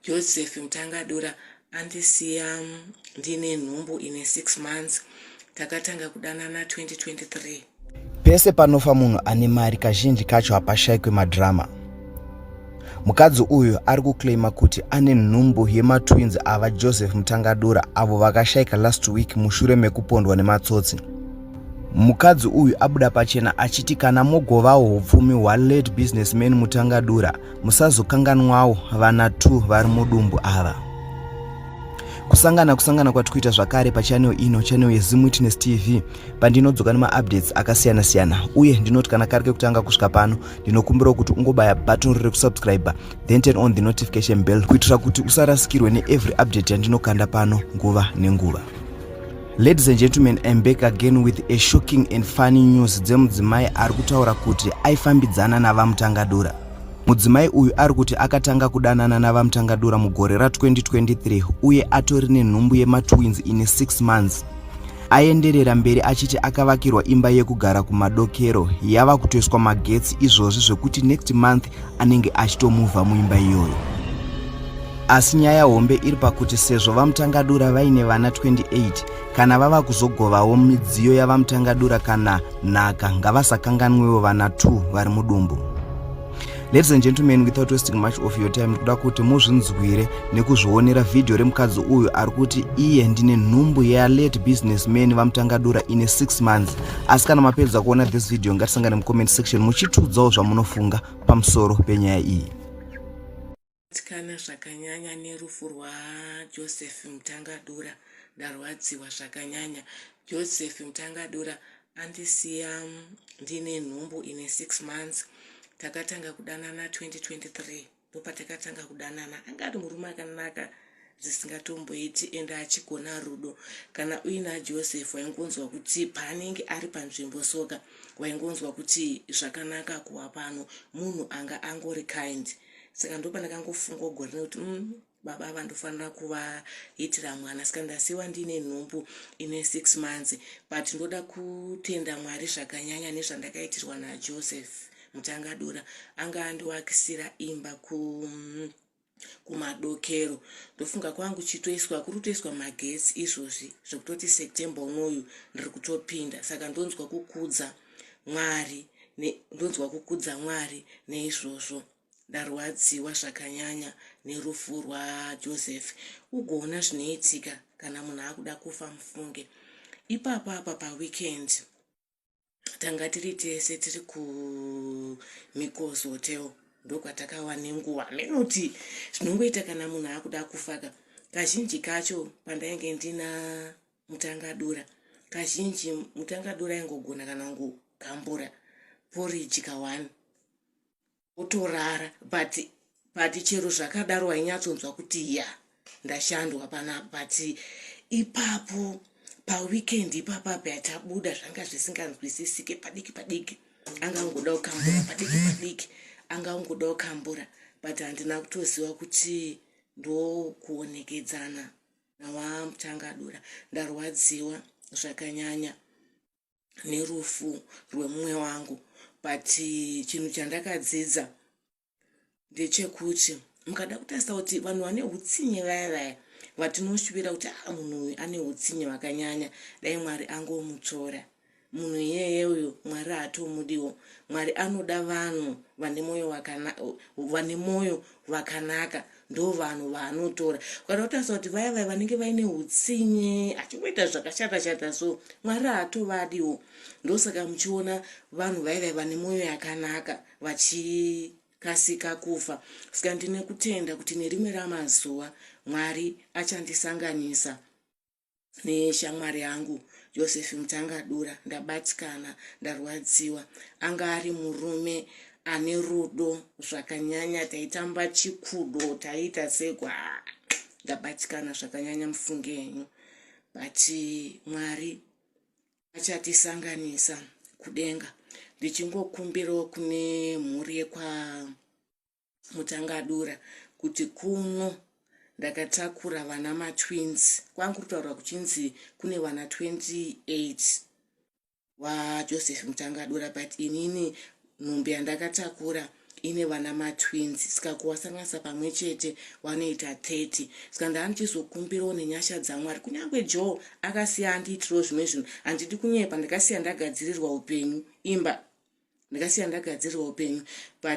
Joseph Mutangadura andisiya ndine nhumbu ine 6 months takatanga kudanana 2023. Pese panofa munhu ane mari kazhinji kacho hapashaikwe madrama. Mukadzi uyu ari kuclaima kuti ane nhumbu yematwins ava Joseph Mutangadura avo vakashaika last week mushure mekupondwa nematsotsi. Mukadzi uyu abuda pachena achiti kana mogovawo upfumi hwalate businessman Mutangadura musazokanganwawo vana two vari mudumbu ava. Kusangana kusangana kwati kuita zvakare pachanel ino chanel yeZim Witness TV pandinodzoka nemaupdates akasiyana siyana uye ndinoti kana kari kekutanga kusvika pano ndinokumbirawo kuti ungobaya button riri kusubscriber then turn on the notification bell kuitira kuti usarasikirwe neevery update yandinokanda pano nguva nenguva. Ladies and gentlemen, I'm back again with a shocking and funny news dzemudzimai ari kutaura kuti aifambidzana navamutangadura. Mudzimai uyu ari kuti akatanga kudanana navamutangadura mugore ra-2023 uye atori nenhumbu yematwins ine 6 months. Aenderera mberi achiti akavakirwa imba yekugara kumadokero yava kutoiswa magetsi izvozvi zvekuti next month anenge achitomuvha muimba iyoyo asi nyaya hombe iri pakuti sezvo vamutangadura vaine vana 28 kana vava kuzogovawo midziyo yavamutangadura kana nhaka ngavasakanganwewo vana 2 vari mudumbu ladies and gentlemen without wasting much of your time ndikuda kuti muzvinzwire nekuzvionera vhidhiyo remukadzi uyu ari kuti iye ndine nhumbu yalate businessman vamutangadura ine 6 months asi kana mapedza kuona this video ngatisangane mucomment section muchitiudzawo zvamunofunga pamusoro penyaya iyi tikana zvakanyanya nerufu rwajoseph mutangadura ndarwadziwa zvakanyanya joseph mutangadura andisiya ndine nhumbu ine six months takatanga kudanana 2023 ndopatakatanga kudanana anga ari murume akanaka dzisingatomboiti ende achigona rudo kana uina joseph waingonzwa kuti paanenge ari panzvimbo soka waingonzwa kuti zvakanaka kuwa pano munhu anga angori kind saka ndopanakangofunga ugorine kuti mm, Baba ava ndofanira kuvaitira mwana saka ndasiwa ndiine nhumbu ine six months but ndoda kutenda mwari zvakanyanya nezvandakaitirwa najoseph mutangadura anga andiwakisira imba ku kumadokero ndofunga kwangu chitoiswa kuri kutoiswa magetsi izvozvi zvekutoti september unoyu ndiri kutopinda saka ndonzwa kukudza mwari ndonzwa kukudza mwari neizvozvo ne Ndarwadziwa zvakanyanya nerufu rwa Joseph ugoona zvinoitika kana munhu akuda kufa mufunge ipapo apa pa weekend tanga tiri tese tiri ku Mikosi hotel ndokwatakawa nenguva menoty zvinongoita kana munhu akuda kufaka kazhinji kacho pandainge ndina mutangadura kazhinji mutangadura ingogona kana kugambura poriji kawani otorara but but chero zvakadaro wainyatsonzwa kuti ya ndashandwa panapa but ipapo paweekend ipapa payatabuda zvanga zvisinganzwisisike padiki padiki anga ungoda kukambura padiki padiki anga ungoda kukambura but handina kutoziva kuti ndokuonekedzana nawamuchangadura ndarwadziwa zvakanyanya nerufu rwemumwe wangu but chinhu chandakadzidza ndechekuti mukada kutarisa kuti vanhu vane utsinye vaya vaya vatinoshuvira kuti a ah, munhu uyu ane utsinye hwakanyanya dai mwari angomutsvora munhu iyeye uyu mwari haatomudiwo mwari anoda vanhu vane mwoyo vane mwoyo vakanaka ndovanhu vaanotora ukaita kutarisa kuti vaya vaya vanenge vaine utsinye achingoita zvakashata shata so mwari hatovadiwo ndosaka muchiona vanhu vaya vaya vane mwoyo yakanaka vachikasika kufa saka ndine kutenda kuti nerimwe ramazuva mwari achandisanganisa neshamwari yangu Joseph Mutangadura ndabatikana ndarwadziwa anga ari murume ane rudo zvakanyanya taitamba chikudo taiita seko haa ndabatikana zvakanyanya mufunge henyu but mwari achatisanganisa kudenga ndichingokumbirawo kune mhuri yekwa mutangadura kuti kuno ndakatakura vana matwins kwangu kutaura kuchinzi kune vana 28 vajoseph mutangadura but inini nhumbi yandakatakura ine vana matwins ska kuwasanganisa pamwe chete wanoita 30 ska ndandichizokumbirawo nenyasha dzamwari kunyange jo akasiya andiitirawo zvimwe zvinhu handidi kunyepa ndakasiya ndagadzirirwa upenyu imba ndakasiya ndagadzirirwa upenyu but